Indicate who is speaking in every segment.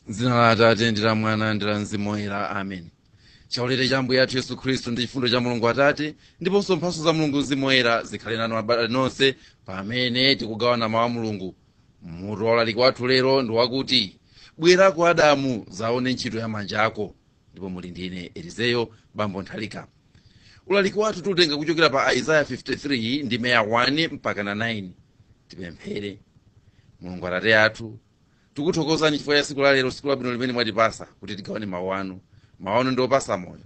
Speaker 1: dzina la atate ndi la mwana ndi la mzimu woyera amen chaulere cha ambuye athu yesu khristu ndi chifundo cha mulungu atate ndiponso mphatso za mulungu mzimu woyera zikhale nanu abale nonse pamene tikugawana mawu a mulungu mutu waulaliki wathu lero ndi wakuti bwera kuno adamu uzaone ntchito ya manja ako ndipo muli ndi ine elizeyo bambo nthalika ulaliki wathu tiutenga kuchokera pa aizaya 53 ndime ya 1 mpakana 9 tipemphere mulungu atate athu tikuthokozani chifukwa cha tsiku lalero tsiku labwino limene mwatipasa kuti tigawane mawu anu mawu anu ndi opasa moyo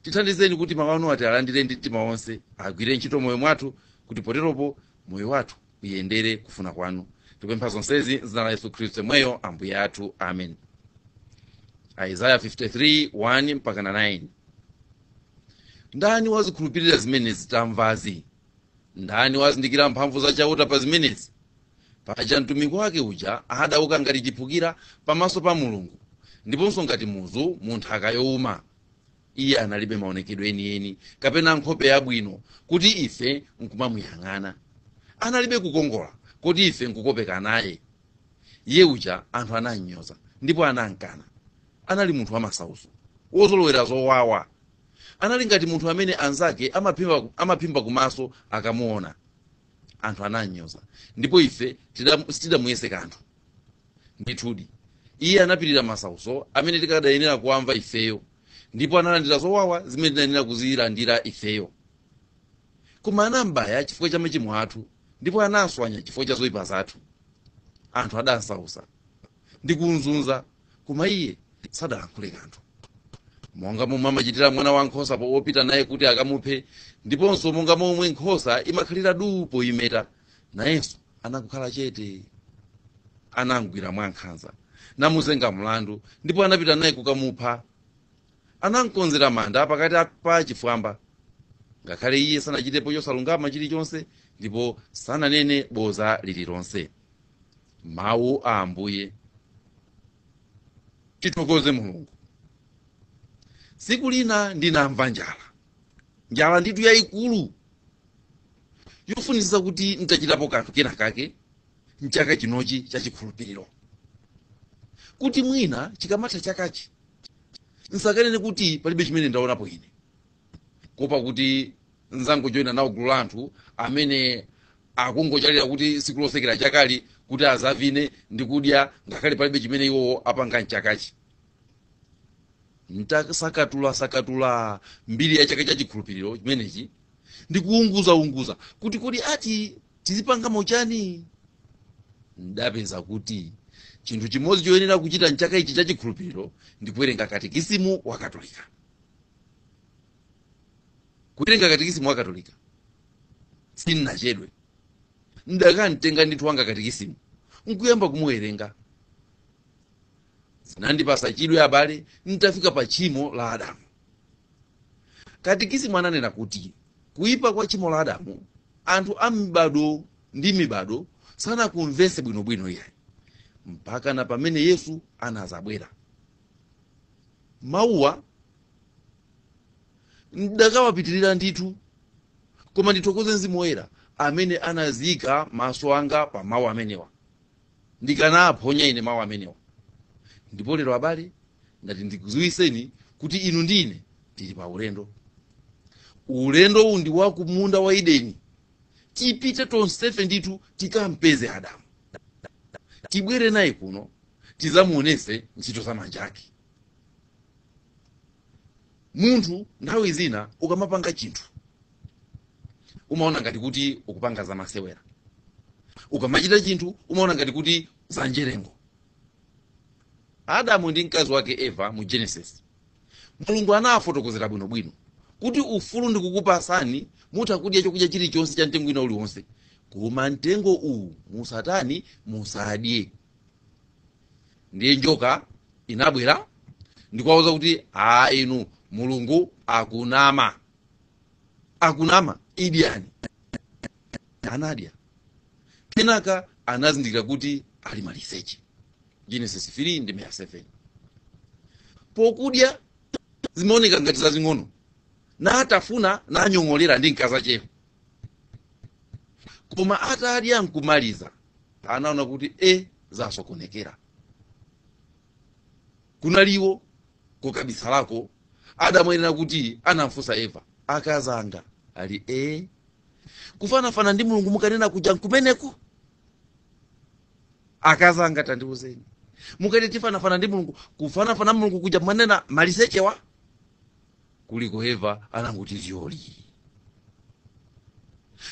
Speaker 1: tithandizeni kuti mawu anuwa tialandire ndi mtima wonse agwire ntchito moyo mwathu kuti poteropo moyo wathu uyendere kufuna kwanu tikupempha zonsezi m'dzina la yesu khristu yemweyo ambuye athu amen aizaya 53 1 mpaka 9 ndani wazikhulupirira zimene tamvazi ndani wazindikira mphamvu za chauta pa zimenezi paja mtumiki wake uja adauka ngati chiphukira pamaso pa mulungu ndiponso ngati muzu mu nthaka youma iye analibe maonekedwe enieni kapena nkhope yabwino kuti ife nkumamuyang'ana analibe kukongola kuti ife nkukopeka naye iye uja anthu anamnyoza ndipo anamkana anali munthu wamasauso wozolowera zowawa Anali ngati munthu amene anzake amaphimba, amaphimba kumaso akamuona. Anthu anamnyoza ndipo ife tidam- sitidamuyese kanthu. Ndithudi, iye anapirira masautso amene tikadayenera kuwamva ifeyo, ndipo analandira zowawa zimene tinayenera kuzilandira ifeyo. Koma anambaya chifukwa cha machimo athu, ndipo anamswanya chifukwa cha zoipa zathu. Anthu adamsautsa ndi kumzunza Koma iye sadalankhule kanthu. Monga momwe amachitira mwana wa nkhosa po- wopita naye kuti akamuphe, ndiponso monga momwe nkhosa imakhalira duu poyimeta, nayenso anakhala chete. Anamgwira mwankhanza, namuzenga mlandu, ndipo anapita naye kukamupha. Anamkonzera manda pakati a- pa achifwamba, ngakhale iye sanachitepo chosalungama chilichonse, ndipo sananene boza lililonse. mawu a ambuye tithokoze mulungu tsiku lina ndinamva njala njala nditu yayikulu yofunitsitsa kuti nditachitapo kanthu kena kake mchaka chinochi cha chikhulupiriro kuti mwina chikamatha chakachi nsakanene kuti palibe chimene ndaonapo ine kuopa kuti nsangojoyina nawo gulu la anthu amene akungochalira kuti siku losekera chakali kuti azavine ndi kudya ngakhale palibe chimene iwowo apanga mchakachi ntasakatula sakatula mbiri ya chaka cha chikhulupiriro chimenechi ndi kuunguza unguza kuti kodi ati tizipanga mochani ndapeza kuti chinthu chimodzi choyenera kuchita mchaka ichi cha chikhulupiriro ndi kuwerenga katekisimu wa katolika kuwerenga katikisimu wa katolika sinnachedwe ndakamtenga ndithu wanga katikisimu nkuyamba kumuwerenga zinandipasa chidwe abale ntafika pa tchimo la adamu katikisimu ananena kuti kuyipa kwa tchimo la adamu anthu a mibado ndi mibado sanakumvese bwinobwino iyayi mpaka na pamene yesu anazabwera mawuwa ndakawapitirira ndithu koma ndithokoze mzimu woyera amene anazika maso anga pa mawu amenewa ndikanaphonya ine mawu amenewa ndipo lero abale ndati ndikuziwiseni kuti inu ndi ine tili pa ulendo ulendowu ndi wa kumunda wa edeni tipite tonsefe ndithu tikampeze adamu tibwere naye kuno tizamuonese ntchito za manja ake munthu nthawi zina ukamapanga chinthu umaona ngati kuti ukupanga zamasewera ukamachita chinthu umaona ngati kuti zanjerengo adamu ndi mkazi wake eva mu genesis mulungu anawafotokozera bwinobwino kuti ufulu ndikukupasani mutha kudya chakudya chilichonse cha mtengo wina uliwonse koma mtengo uwu musatani musadye ndiye njoka inabwera ndikuwauza kuti a inu mulungu akunama akunama idyani anadya kenaka anazindikira kuti ali maliseche genesis 3 ndime 7 pokudya zimaoneka ngati zazing'ono natafuna nang'ong'olera ndi mkaza chero koma atadya nkumaliza anaona kuti e zasokonekera kunaliwo kukabisalako adamu ayenera kuti anamfunsa eva akazanga ali e kufanafana ndi mulungu mukanena kuja nkumeneko akazanga tandiuzeni mukati tifanana ndi mulungu kufanafana mulungu kuja mwanena malisechewa kuliko eva anangoti zyoli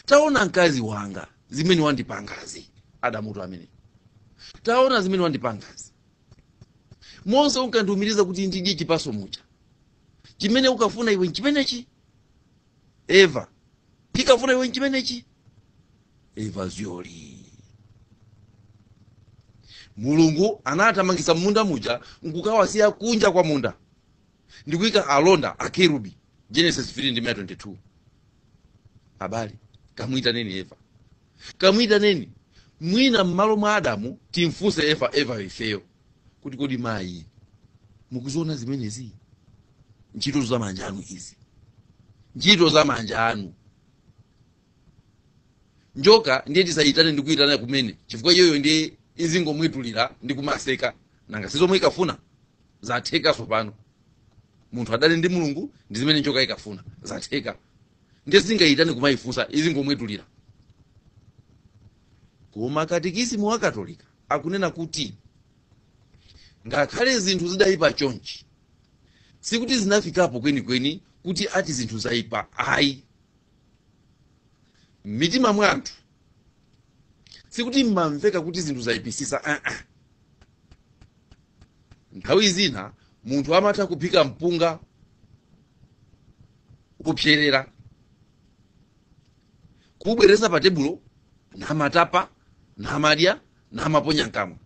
Speaker 1: taona mkazi wanga zimene wandipangazi adamutu amene taona zimene wandipangazi monse unkandiumiriza kuti ndidye chipaso muja chimene unkafuna iwe nchimenechi eva chinkafuna iwe nchimenechi eva zyoli mulungu anathamangitsa m'munda muja nkukawasiya kunja kwa munda ndi kuika alonda akerubi genesis 3 ndime 22 abale kamuitaneni eva kamuitaneni mwina m'malo mwa adamu timfunse eva eva ifeyo kuti kodi mayi mukuziona zimenezi ntchito za manja anu izi ntchito za manja anu njoka ndiye tisayitane ndi kuyitana kumene chifukwa iyoyo ndiye izingomwetulira ndi kumaseka nanga si zomwe inkafuna zatheka tsopano munthu adane ndi mulungu ndi zimene njoka inkafuna zatheka ndiye tingayitane kumayifunsa izingomwetulira koma katikisimu wa katolika akunena kuti ngakhale zinthu zidayipa chonchi sikuti zinafikapo kwenikweni kuti ati zinthu zayipa ayi m'mitima mwa anthu sikuti mmamveka kuti zinthu zayipisisa uh-uh. nthawi zina munthu amatha kuphika mpunga kupserera kubweresa pa tebulo namatapa namadya namaponya mkamwa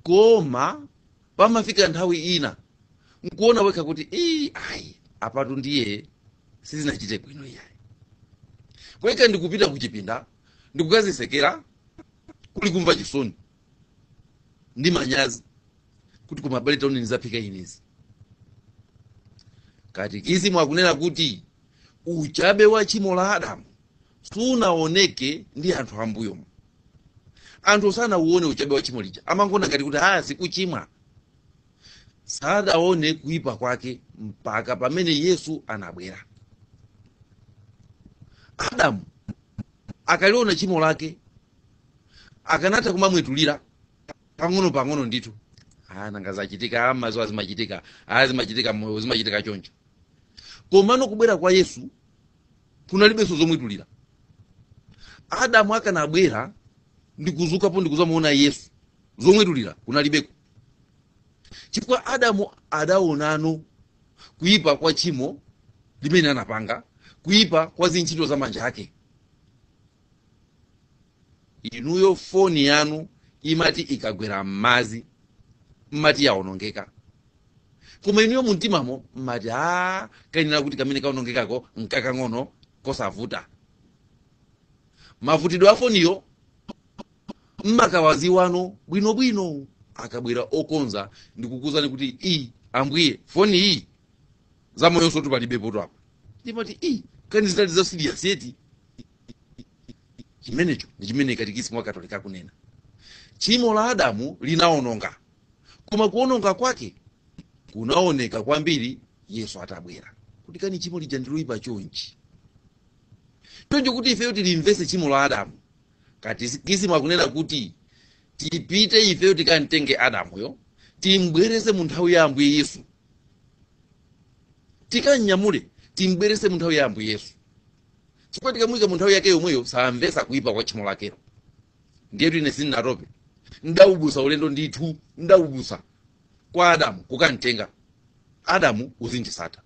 Speaker 1: koma pamafika nthawi ina nkuona wekha kuti ii ayi apatu ndiye sizinachite bwino iyayi kweka ndikupita kuchipinda ndikukazisekera kuli kumva chisoni ndi manyazi kuti koma abale taoneni zaphika inezi katikisimu akunena kuti uchabe wa chimo la adamu sunaoneke ndi anthu ambuyomo anthu sanauone uchabe wa chimo lija amangoona ngati kuti aa si kuchimwa sadaone kuipa kwake mpaka pamene yesu anabwera adamu akaliona chimo lake akanatha kumamwetulira pang'ono pang'ono ndithu Ah, nanga zachitika amazo zimachitika zimachitika moyo zimachitika choncho komano kubwera kwa yesu kunalibenso zomwetulira adamu akanabwera ndikuzukapo ndikuzamuona yesu zomwetulira kunalibeko chifukwa adamu adaonano kuyipa kwa tchimo limene anapanga kuyipa kwa zintchito za manja ake inuyo foni yanu imati ikagwera m'madzi mmati yaonongeka koma inuyo mumtimamo mmati a kayenera kuti kamene kaonongekako nkakang'ono kosavuta mavutidwe a foniyo mmakawaziwano bwinobwino akabwera okonza ndikukuuzani kuti iyi ambuye foni iyi zamoyonsotu palibepotu apa ndimati i kani zinali za serious eti chimenecho ndi chimene katikisimu wa katolika akunena tchimo la adamu linaononga koma kuononga kwake kunaoneka kwambiri yesu atabwera kuti kani tchimo lija ndiloyipa chonchi choncho kuti ifeyo tilimvese tchimo la adamu katikisimu akunena kuti tipite ifeyo tikamtenge adamuyo timbwerese mu nthawi ya ambuye yesu tikamnyamule timbwerese mu nthawi ya ambuye yesu chifukwa tikamuyika mu nthawi yake yomweyo samvetsa kuyipa kwa tchimo lakelo ndiyetu ine sindinatope ndaubusa ulendo ndithu ndaubusa kwa adamu kukamtenga adamu uzinditsata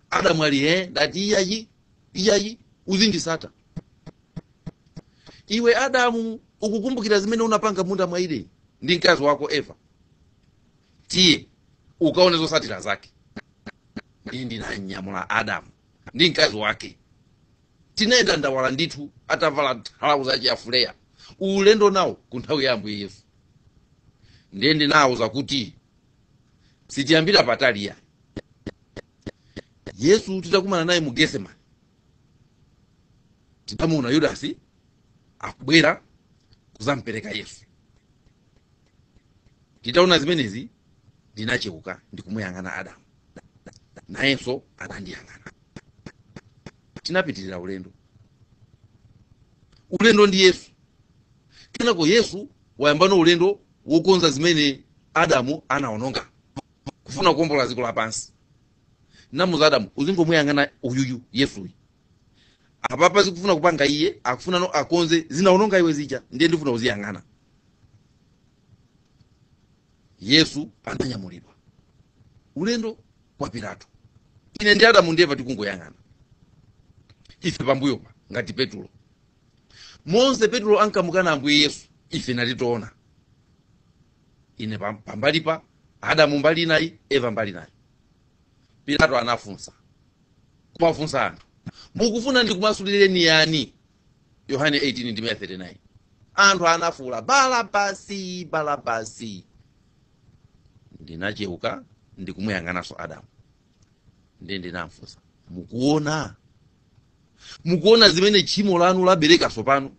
Speaker 1: adamu ali he ndati iyayi iyayi uzinditsata iwe adamu ukukumbukira zimene unapanga m'munda mwa ideni ndi mkazi wako eva tiye ukaone zotsatira zake ndiye ndinamunyamula adamu ndi mkazi wake tinayenda ndawala ndithu atavala thalauza chafuleya ulendo nawo ku nthawi ya ambuye yesu ndiye ndinawauza kuti sitiyambira patali a yesu titakumana naye mu getsemani tinamuona yudasi akubwera kuzampereka yesu nditaona zimenezi ndinacheuka ndikumuyang'ana adamu nayenso anandiyang'ana tinapitirira ulendo ulendo ndi yesu kenako yesu wayambano ulendo wokonza zimene adamu anaononga kufuna kuombola dziko lapansi ndamuuza adamu uzingomuyang'ana uyuyu yesuyu apapa zimene akufuna kupanga iye akufunano akonze zinaononga iwe zija ndiye ndifuna uziyang'ana yesu ananyamulidwa ulendo kwa pilato ine ndi adamu ndi eva tikungoyang'ana ife pambuyopa ngati petulo monse petulo ankamukana ambuye yesu ife nali tikuona ine pam- pambali pa adamu mbali inayi eva mbali inayi pilato anafunsa kuwafunsa anthu mukufuna ndikumasulireni yani yohane 18 ndime ya 39 anthu anafuula balabasi balabasi ndinacheuka ndikumuyang'ananso adamu ndiye ndinamfunsa mukuona mukuona zimene tchimo lanu labereka tsopano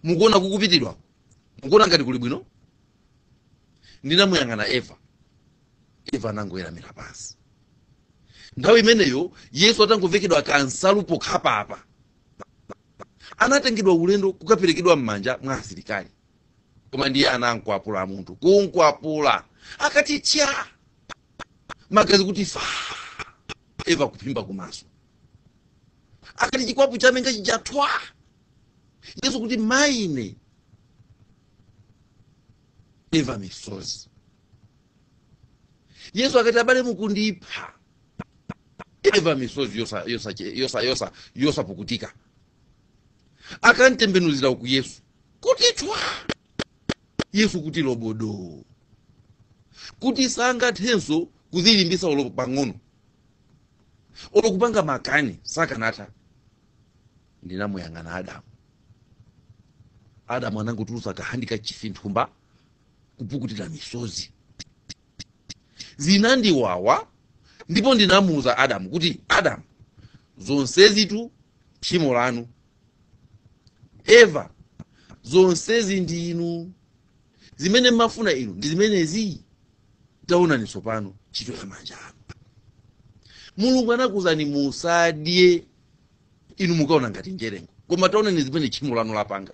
Speaker 1: mukuona kukupitidwa mukuona ngati kuli bwino ndinamuyang'ana eva eva anangoyeramira pansi nthawi imeneyo yesu atangovekedwa kansalu pokhapapa anatengedwa ulendo kukaperekedwa m'manja mwa asilikali koma ndiye anankwapula munthu kunkwapula akati tya magazi kuti fa eva kuphimba kumaso akati chikwapu chaminga chija thwa yesu kuti mayine eva misozi yesu akati abale mukundipha eva misozi yosapukutika akamtembenuzira uku yesu kuti thwa yesu kuti lobodo kuti sangathenso kuzilimbisa olo pang'ono olo kupanga makani sakanatha ndinamuyang'ana adamu adamu anangotulusa kahandikachifi mthumba kupukutira misozi zinandiwawa ndipo ndinamuuza adamu kuti adamu zonsezitu tchimo lanu eva zonsezi ndi inu zimene mmafuna inu ndi zimenezi taonani tsopano ntchito ya manja anu mulungu anakuuzani musadye inu mukaona ngati njerengo koma taonani zimene tchimo lanu lapanga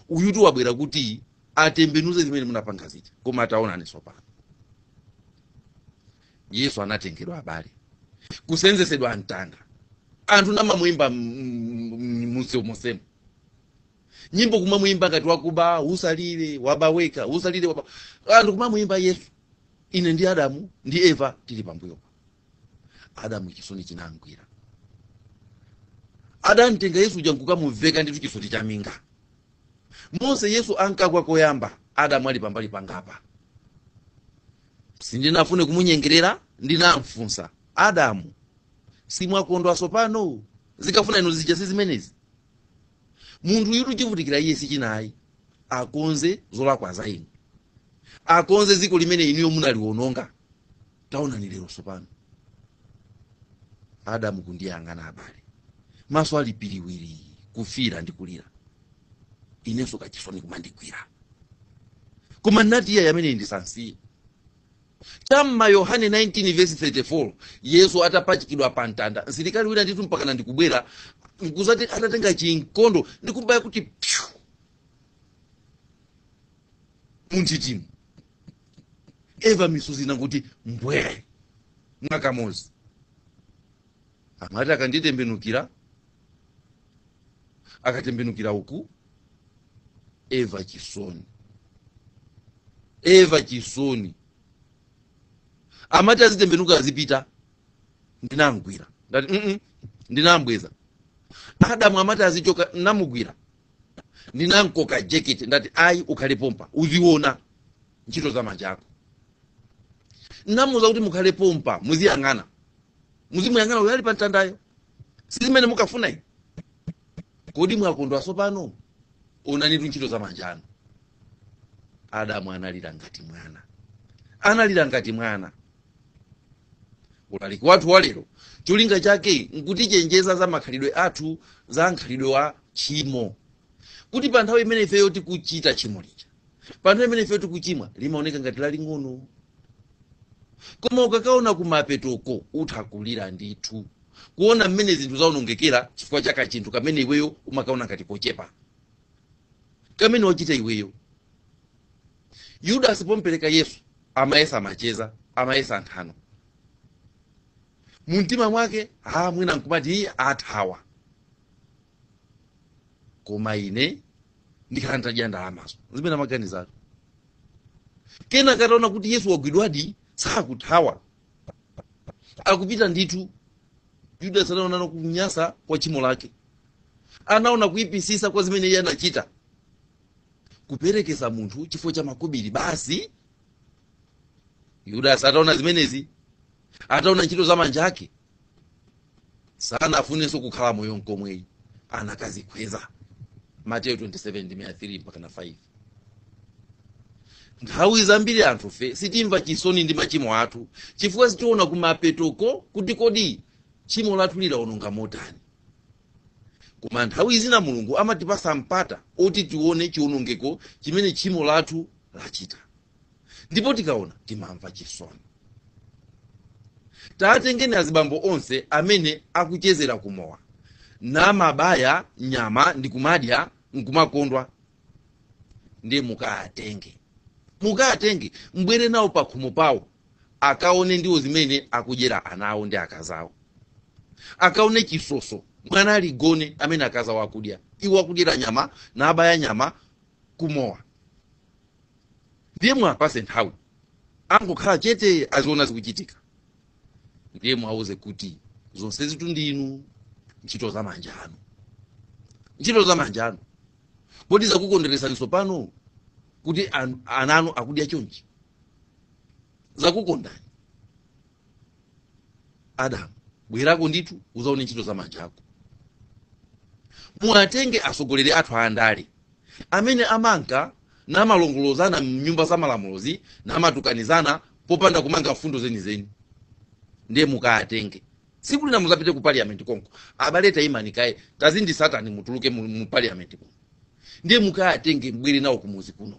Speaker 1: uyutu wabwera kuti atembenuze zimene munapanga zija koma taonani tsopano yesu anatengedwa abale kusenzesedwa mtanda anthu namamuyimba mumseu monsemo nyimbo kumamuyimba ngati wakuba usalire waba weka usalire waba anthu kumamuyimba yesu ine ndi adamu ndi eva tili pambuyo adamu chisoni chinamgwira adamtenga yesu uja nkukamuveka ndithu chisoti cha minga mmene yesu ankagwa koyamba adamu ali pambali pangapa sindinafune kumunyengerera ndinamfunsa adamu simwakondwa sopano munkafuna inu zija si zimenezi munthuyutu chivutikira iye si china ayi akonze zolakwa za inu akonze dziko limene inuyo munaliwononga taonani lero tsopano adamu kundiyang'ana abale maso ali piriwiri kufira ndi kulira inenso kachisoni kumandigwira koma nati iye amene ndisansiye cha mma yohane 19 verse 34 yesu atapachikidwa pa mtanda msilikali wina ndithu mpakana ndikubwera nkuzati atatenga chinkondo ndikumbaya kuti pyu munthitimu eva misozi nangoti mbwere mwakamozi amati akanditembenukira akatembenukira uku eva chisoni eva chisoni amati azitembenuka azipita ndinamgwira ndati ndinambweza adamu amati azichoka ndinamugwira ndinamkoka jekete ndati ayi ukhale pompa uziona ntchito za manja ako ndinamuuza kuti mukhale pompa muziyang'ana muzimuyang'ana uyo ali pa mtandayo si zimene munkafuna inu kodi mwakondwa tsopano onanitu ntchito za manja anu adamu analira ngati mwana analira ngati mwana ulaliki wathu wa lero cholinga chake nkutichenjeza za makhalidwe athu za mkhalidwe wa tchimo kuti pa nthawi imene ifeyo tikuchita tchimo lija pa nthawi imene ifeyo tikuchimwa limaoneka ngati laling'ono koma ukakaona kumapetoko utha kulira ndithu kuona mmene zinthu zaonongekera chifukwa cha kachinthu kamene iweyo umakaona ngati kochepa kamene wachita iweyo yudasi pompereka yesu amayesa macheza amayesa nthano mumtima mwake ha mwina ankumati iye athawa koma ine ndikhala nditadya ndalamazo zimene amaganizatu kenaka ataona kuti yesu wagwidwadi sakuthawa akupita ndithu yudasi anaonano kunyasa kwa tchimo lake anaona kuipitsitsa kwa zimene iye anachita kuperekeza munthu chifukwa cha makobiri basi yudasi ataona zimenezi ataona ntchito za manja ake sanafunenso kukhala moyo nkomwe ayi anakadzikhweza mateyo 27 ndime ya 3 mpaka na 5 nthawi zambiri anthufe sitimva chisoni ndi machimo athu chifukwa sitiona kumapetoko kuti kodi tchimo lathu lidaononga motani koma nthawi zina mulungu amatipatsa mpata oti tione chionongeko chimene tchimo lathu lachita ndipo tikaona timamva chisoni tatengeni azibambo onse amene akuchezera kumowa namabaya nyama ndikumadya nkumakondwa ndiye mukawatenge mukawatenge mubwere nawo pakhomo pawo akaone ndiwo zimene akudyera ana awo ndi akazi awo akaone chisoso, mwana aligone amene akazi awo akudya iwo akudyera nyama nabaya nyama kumowa ndiye muwapatse nthawi angokhala chete aziona zikuchitika ndiye muwauze kuti zonsezitu ndi inu ntchito za manja anu ntchito za manja anu kodi zakukondweretsani tsopano kuti an- ana anu akudya chonchi zakukondani adamu bwerako ndithu uzaone ntchito za manja ako muwatenge atsogoleri athu andale amene amanka namalongolozana mnyumba za malamulozi namatukanizana popanda kumanga mfundo zenizeni ndiye mukatenge tsiku lina muzapite ku parliament konko abale tayimani kaye tazinditsatani mutuluke mu, mu parliament konko ndiye mukatenge mubwere nawo kumuzi kuno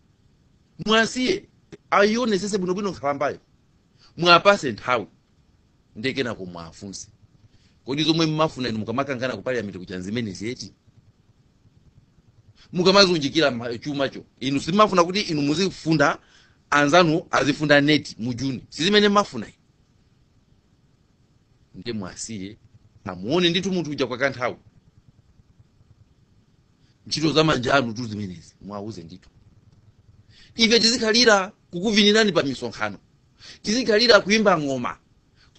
Speaker 1: muwasiye ayionetsetse bwinobwino nkhalambayo muwapatse nthawi ndi kenako muwafunse kodi zomwe mmafuna inu mukamakangana ku parliament kuja zimenezi eti mukamazunjikira ma- chumacho inu simafuna kuti inu muzifunda anzanu azifunda neti mu juni sizimene mmafuna inu ndiye muwasiye amuone ndithu munthu uja kwa kanthawi ntchito za manja anutu zimenezi muwauze ndithu ife tizikhalira kukuvinirani pa misonkhano tizikhalira kuimba ng'oma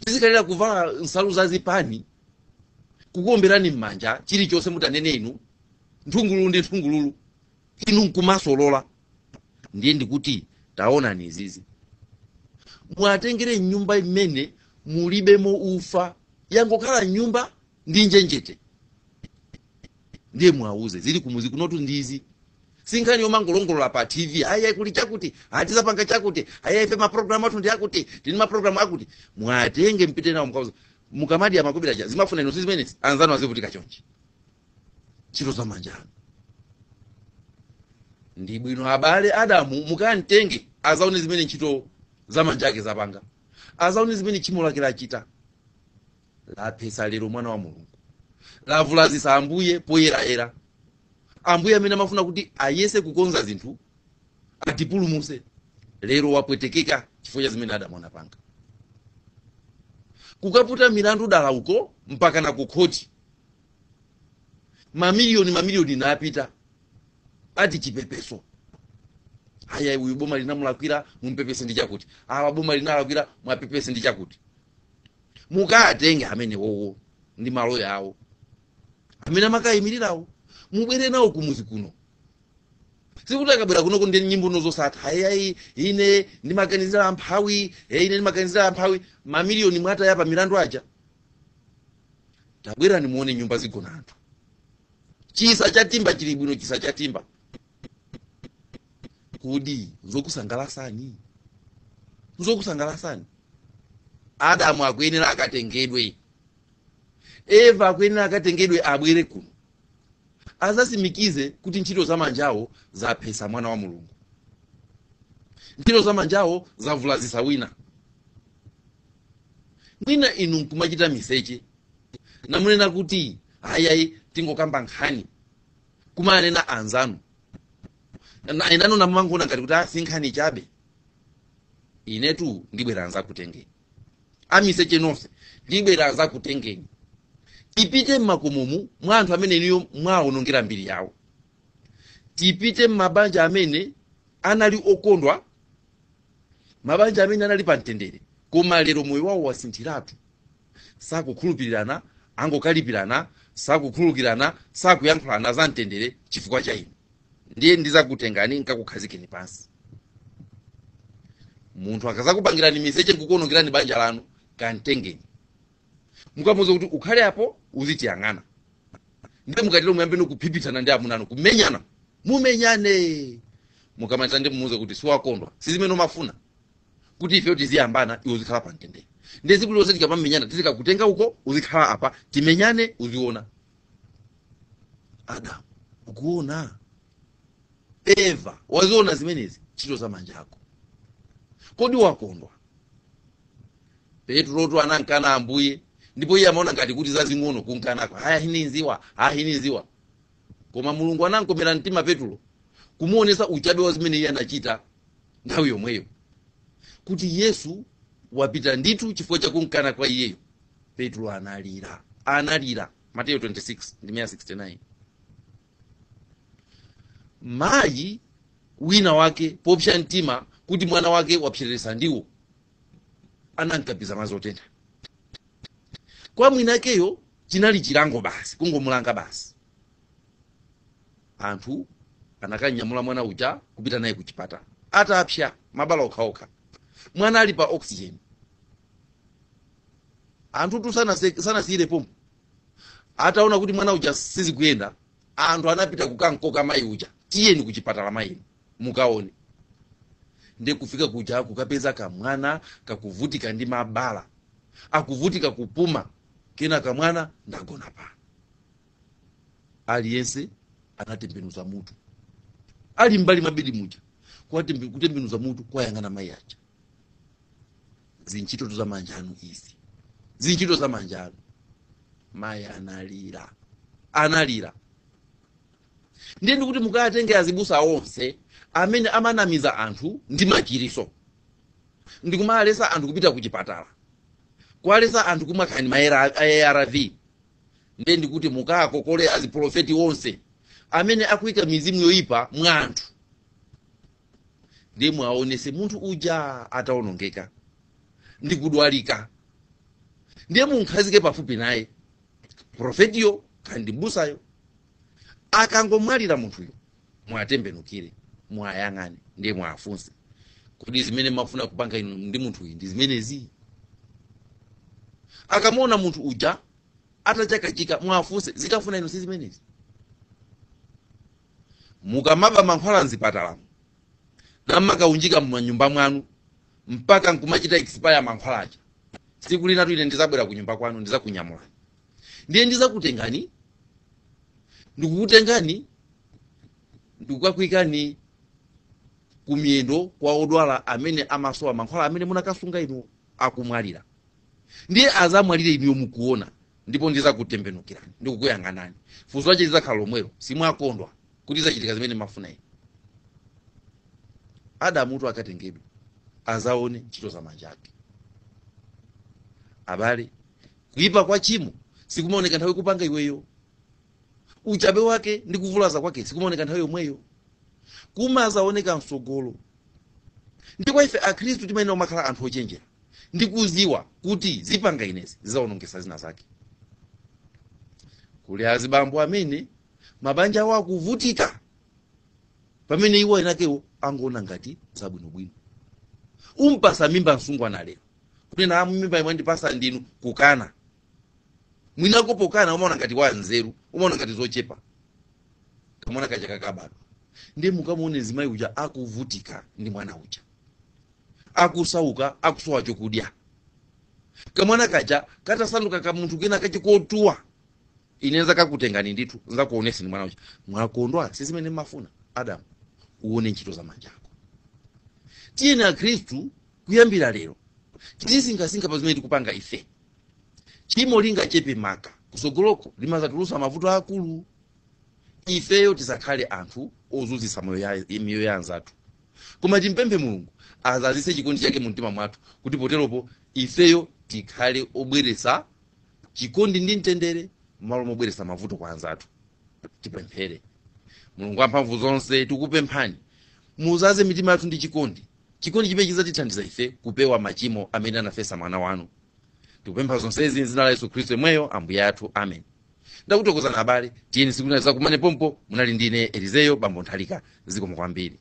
Speaker 1: tizikhalira kuvala nsalu za zipani kukuomberani m'manja chilichonse mutanene inu nthungululu ndi nthungululu inu nkumasolola ndiye ndikuti taonani izizi muwatengere m'nyumba imene mulibemo ufa yangokhala nyumba ndi njenjete ndiye muwauze zili kumuzi kunotu ndizi si nkhani yomangolongolola pa tv ayi kuli chakuti ati tizapanga chakuti ayi ife maprogramu athu ndi akuti tini maprogramu akuti muwatenge mupite nawo mukauza mukamadi amakobera cha zimene mmafuna inu zimenezi anzanu azivutika chonchi ntchito za manja anu ndi bwino abale adamu mukamtenge azaone zimene ntchito za manja ake zapanga azaone zimene tchimo lake lachita laphetsa lero mwana wa mulungu lavulazitsa ambuye poyerayera ambuye amene amafuna kuti ayese kukonza zinthu atipulumuse lero wapwetekeka chifukwa cha zimene adamu anapanga kukaputa milandu dala uko mpaka na kukhoti mamiliyoni mamiliyoni napita ati chipepeso aya uyu boma linamulakwira mumpepese ndi chakuti awa boma linalakwira muwapepese ndi chakuti mukatenge amenewowo ndi maloya awo amene amakayimirirawo mubwere nawo kumuzi kuno sikuti akabwera kunoko ndiye nyimbo zosatha ayayi ine ndimaganizira amphawi ine ndimaganizira amphawi mamiliyoni mwataya pa milandu aja tabwerani muone nyumba zigona anthu chisa chatimba chili bwino chisa chatimba kodi nzokusangalasani nzokusangalasani adamu akuyenera akatengedwe eva akuyenera akatengedwe abwere kuno adzasimikize kuti ntchito za manjawo zaphesa mwana wa mulungu ntchito za manjawo zavulazisa wina mwina inu nkumachita miseche namunena kuti ayayi tingokamba nkhani kumanena anzanu na- enanu namangoona ngati kuti a si nkhani chabe inetu ndibwera nzakutengeni amiseche nonse ndibwera nzakutengeni tipite mmakomomu mwa anthu amene inuyo mwaonongera mbiri yawo tipite mmabanja amene anali okondwa mabanja amene anali pa mtendere koma lero moyo wawo wasinthiratu sakukhulupirirana angokalipirana sakukhulukirana sakuyankhulana za mtendere chifukwa cha inu ndiye ndizakutengani nkakukhazikeni pansi munthu akazakupangirani miseche nkukuonongerani banja lanu kamtengeni mukamuuza kuti ukhale apo uzitiyang'ana ndiye mukatero muyambe kuphiphitsana ndi amunanu kumenyana mumenyane mukamaliza ndiye mumuuze kuti siwakondwa sizimene umafuna kuti ifeyo tiziyambana iwe uzikhala pa mtendere ndiye tsiku lonse tikamamenyana tizikakutenga uko uzikhala apa timenyane uziona adamu ukuona eva waziona zimenezi ntchito za manja ako kodi wakondwa petulotu anamkana ambuye ndipo iye amaona ngati kuti zazing'ono kumkanako ayayi sinimdziwa ayayi sinimdziwa koma mulungu anamkomera mtima petulo kumuonesa uchabe wa zimene iye anachita nthawi yomweyo kuti yesu wapita ndithu chifukwa chakumkana kwa iyeyo petulo analira analira mateyo 26 ndime 69 mayi wina wake popsya mtima kuti mwana wake wapseresa ndiwo anamkapiza madzi otentha kwa mwinakeyo chinali chilango basi kungomulanga basi anthu anakanyamula mwana uja kupita naye ku chipatala atapsya mabala okhaokha mwana ali pa oxygen anthutu sanase- sanasiyire pompo ataona kuti mwana uja sizikuyenda anthu anapita kukankoka mayi uja tiyeni ku chipatala mayinu mukaone ndi kufika kuja kukapeza kamwana kakuvutika ndi mabala akuvutika kupuma kena kamwana nditagona apa aliyense anatembenuza mutu ali mmbali mwa bedi muja kuwatembe- kutembenuza mutu kwayang'ana mayi aja zintchito za manja anu izi zintchito za manja anu mayi analira analira Ndiye ndikuti mukatenge azibusa onse amene amanamiza anthu ndi machiriso ndikumalesa anthu kupita ku chipatala kuwalesa anthu kumwa kaya ndi ma arv ndiye ndikuti mukakokole aziprofeti onse amene akuika mizimu yoyipa mwa anthu ndiye mwaonese munthu uja ataonongeka ndikudwalika ndiye munkhazike pafupi naye profetiyo kaya ndi mbusayo akangomwalira munthuyo mwatembenukire mwayang'ane ndiye mwafunse kodi zimene mafuna kupanga inu ndi munthuyi ndi zimenezi akamuona munthu uja atachakachika mwafunse zimafuna inu si zimenezi mukamaba mankhwala mzipatalamo nkumakaunjika mmanyumba mwanu mpaka nkumachita expire mankhwala aja siku linalo ine ndizabwera ku nyumba kwanu ndizakunyamula ndiye ndizakutengani ndikukutengani ndikukakuikani kumiyendo kwa odwala amene amasowa mankhwala amene munakasunga inu akumwalira ndiye azamwalire inuyo mukuona ndipo ndizakutembenukirani ndikukuyang'anani funso lache lizakhala lomwelo simwakondwa kuti zachitika zimene mmafuna inu adamutu akatengedwe azaone ntchito za manja ake abale Kuipa kwa chimo sikumaoneka nthawi ukupanga iweyo. Uchabe wake ndi kuvulaza kwake sikumaoneka nthawi yomweyo. Kumazaoneka msogolo. Ndiye ife Akristu timayenera kumakhala anthu ochenjera ndi kuziwa kuti zikupanga inezi zizawonongesa zina zake. Kuli azibambo amene mabanja awo akuvutika pamene iwo eniakewo akungoona ngati zabwinobwino. Umpasa mimba msungwana lero. kunena amene mimbayi mwandipasa ndinu kukana mwina uko pokana umaona ngati wa nzeru umaona ngati zochepa kamwana kaja kakabadwa ndiye mukamuone mzimayi uja akuvutika ndi mwana uja akusauka akusowa chokudya kamwana kaja katasanduka kamunthu kena kachikotuwa ine nzakakutengani ndithu nzakuoneseni mwana uja mwakondwa si zimene mmafuna adamu uone ntchito za manja ako tiyeni akhristu Kuyambira lero, tizisinkhasinkha pa zimene tikupanga ife. Tchimo lingachepe maka, kusogoloko limazatulusa mavuto akulu. Ifeyo tizakhale anthu ozuzisa moyo ya, miyoyo ya anzathu. Koma timpemphe Mulungu azazise chikondi chake mu mtima mwathu kuti poteropo ifeyo tikhale obweresa chikondi ndi mtendere mmalo mobweresa mavuto kwa anzathu. Tipemphere. Mulungu wamphamvu zonse, tikupemphani muzaze mitima yathu ndi chikondi Chikondi chimene chidzatithandiza ife kupewa machimo amene anafesa mwana wanu. Tikupempha zonsezi m'dzina la Yesu Khristu yemweyo Ambuye athu. Amen. Ndakuthokozani abale, tiyeni siku lina tizakumane pompo. Munali ndi ine Elizeyo Bambo Nthalika. Zikomo kwambiri.